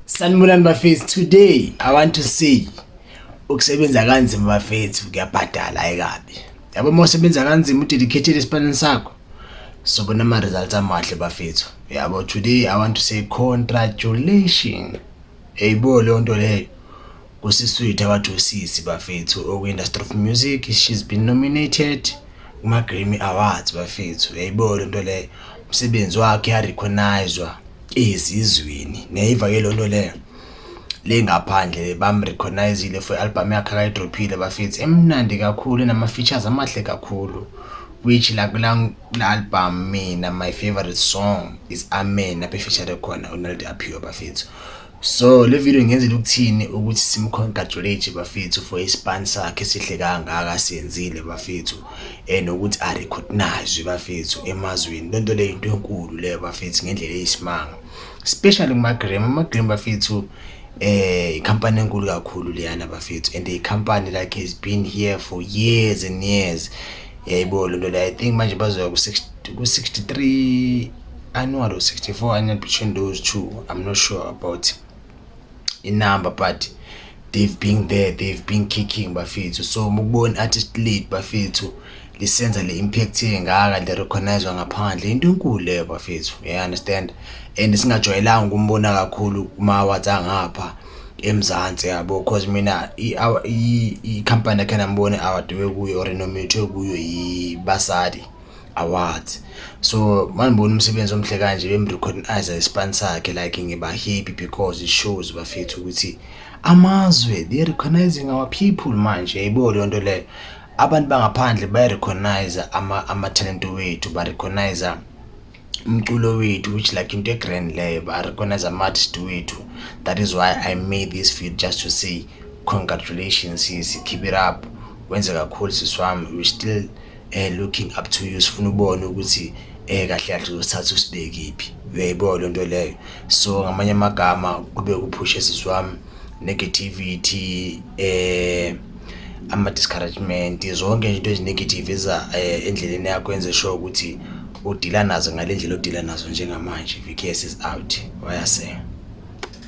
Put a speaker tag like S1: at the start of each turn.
S1: Sanibonani bafethu today I want to see ukusebenza kanzima bafethu kuyabhadala ayikabi yabo uma usebenza kanzima udedicated esipanini sakho sobona ama results amahle bafethu yabo today I want to say congratulations eyibo leyo nto leyo kusiswethu abathi usisi bafethu okwi-industry of music she's been nominated kuma-grammy awards bafethu yayibo le nto leyo umsebenzi wakhe yarecognizwa ezizweni neyiva ke loo nto leyo le ngaphandle bamrecognizile for i-albhamu yakhe akayidrophile bafethu emnandi kakhulu enama-features amahle kakhulu which la kula album mina my favorite song is amen aphe feature khona unaldi aphiwe bafethu So le video ngenzela ukuthini ukuthi simcongratulate bafethu for ispan sakhe sihle kangaka senzile bafethu and ukuthi a recognize bafethu emazweni lento le into enkulu le bafethu ngendlela eyisimanga especially kuma Graham ama Graham bafethu eh company enkulu kakhulu leyana bafethu and the company like has been here for years and years yayibo lento le i think manje bazoya ku 60 ku 63 Annual or 64 annual between those two I'm not sure about inumber but they've been there they've been kicking bafethu so mukubona artist lead bafethu lisenza le impact engaka le recognizwa ngaphandle into enkulu leyo bafethu yeah understand and singajwayelanga ukumbona kakhulu kuma awards angapha eMzansi yabo because mina i company yakhe nambone award kuyo or nominate kuyo yibasadi awards so mandibona umsebenzi omhle kanje bemrecognize ispan sakhe like ngiba happy because it shows bafethu ukuthi amazwe they recognizing our people manje yibo leyo nto leyo abantu bangaphandle bayarecognize ama-talent ama wethu barecognize umculo wethu which like into egrand leyo barecognize ama-artist wethu that is why i made this video just to say congratulations sisi keep it up wenze kakhulu sisi wami we still eh looking up to you sifuna ubone ukuthi eh kahle kahle uzothatha usibekiphi uyayibona le nto leyo so ngamanye amagama kube kuphushe sisi wami negativity eh ama-discouragement zonke nje into ezinegative eza eh, endleleni yakho enze sure ukuthi udila nazo ngale ndlela odila nazo njengamanje vks is out wayasela